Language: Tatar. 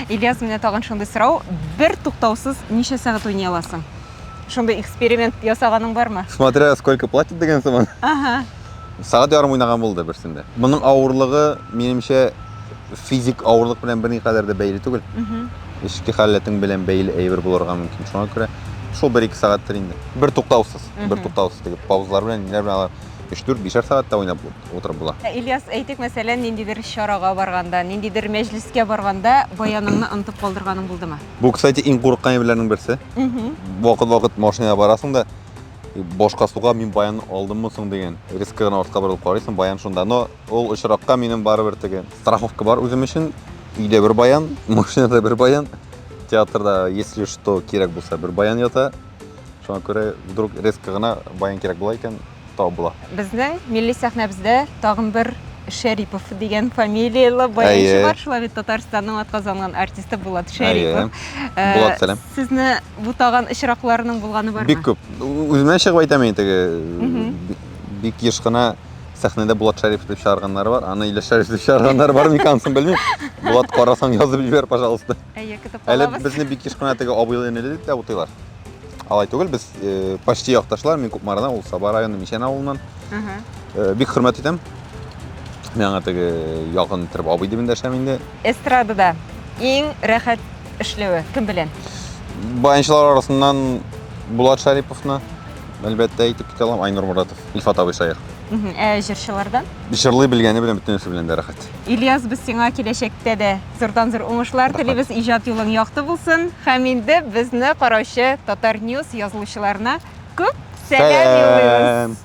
Ильяс, менә тагын шундый сорау. Бер туктаусыз ничә сәгать уйный аласың? Шундый эксперимент ясаганың бармы? Смотря сколько платят дигән сыман. Ага. Сәгать ярым уйнаган булды берсендә. Моның авырлыгы, минемчә, физик авырлык белән берникадәр дә бәйле түгел. Эчке халәтең белән бәйле әйбер булырга мөмкин. Шуңа күрә шул 1-2 сәгатьтер инде. Бер туктаусыз, бер туктаусыз дип паузалар белән, ниләр белән алар 3-4, бишәр сәгать тә уйнап булды. утырып була. Ә Ильяс, әйтик, мәсәлән, ниндидер чарага барганда, ниндидер мәҗлескә барганда баяныңны онытып калдырганың булдымы? Бу, кстати, иң курыккан әйберләрнең берсе. Вакыт-вакыт машинага барасың да, башка суга мин баян алдыммы соң дигән резко гына артка борылып карыйсың, баян шунда. Но ул очракка минем барыбер теге страховка бар үзем өчен. Өйдә бер баян, машинада бер баян, театрда, если что, кирәк булса, бер баян ята. Шуңа күрә вдруг резко гына баян кирәк була икән, табыла. Безнең милли сәхнәбездә тагын бер Шәрипов дигән фамилияле баянчы бар. Шулай бит Татарстанның атказанган артисты Булат Шәрипов. Э, Булат, сәлам. Сезне бу тагын очракларының булганы бармы? Бик күп. Үземнән чыгып әйтәм мин теге бик еш кына сәхнәдә Булат Шәрипов дип чыгарганнар бар. Аны Илеш Шәрипов дип чыгарганнар бар микансын белмим. Булат карасаң язып җибәр, пожалуйста. Әйе, көтеп калабыз. Әле безне бик еш кына теге абыйлы энеле дип тә утыйлар. алай түгел без э, почти якташлар мин кукмардан ул саба районы мичән авылыннан э, бик хөрмәт итәм мин аңа теге якын иттереп абый дип эндәшәм инде эстрадада иң рәхәт эшләве кем белән баянчылар арасыннан булат шариповны әлбәттә әйтеп китә алам айнур моратов илфат абый шаир ә җырчылардан җырлый белгәне белән бөтенесе белән дә рәхәт ильяс без сиңа киләчәктә дә Зурдан зур уңышлар телибез, иҗат юлың якты булсын. Һәм инде безне караучы Татар News язылучыларына күп сәлам юллыйбыз.